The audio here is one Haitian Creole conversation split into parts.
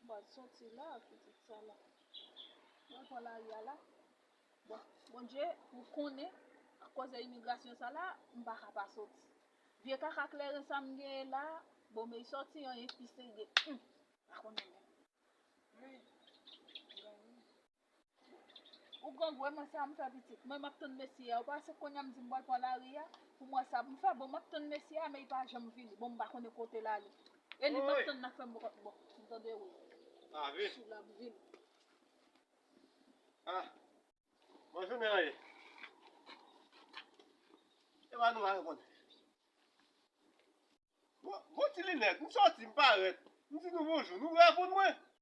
Bon soti la pitit sa la. Mwen pran lari a la. Bon Bondye ou konnen ak koze imigrasyon sa la m pa ka pa soti. Vye kaka kleren sa m genyen la bon me soti anyen ki serye humm m pa konnen menm. Humm m gen rii. Ou grangou e mwen sa m fè pitit mwen map tann mesye a ou pa wè se kounya m di m pral pran lari a pou m wè sa poum fè bon map tann mesye a men li pa janm vini bon m pa konnen kote l ale e li map tann nan fè m bon m tande wi wi sou lap vini a bon jounen an ye e ba nou al bon bon ti linèt m sòti m parèt m di nou bonjou nou reponn mwen.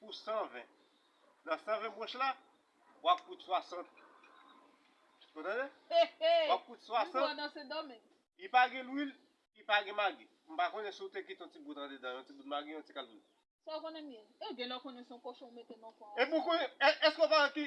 pou 120. Nan 120 branch la, wap fout 60. Ou tande? Wap fout 60. Li pa gen lwil, li pa gen magi. M pa konnen si w te kite yon ti bout andedan, yon ti bout magi, yon ti kal poud. Sa w konnen m ye. Ew genlè w konnen se yon kochon w mete nan fò a. Epi w konnen, èske w pa wè ki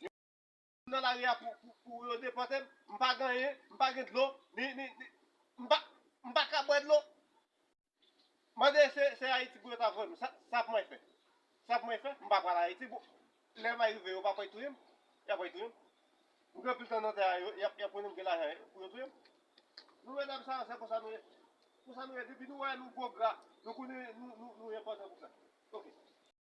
Yo nan lari a pou yo depòte m, m pa gen anyen, m pa gen dlo, m pa ka bwè dlo. Mande se Ayiti pou yo ta voye m. Sa pou mwen fè? Sa pou mwen fè? M pa pral Ayiti. Lè may rive yo pa pral touye m? Y a pral touye m. M gen anpil tan nan tè a, y a konnen m gen lajan pou yo touye m. Nou menm menm sa yo se konsa nou ye. Konsa nou ye depi nou wè nou gwo gra, nou konnen nou enpòtan pou sa. Ok.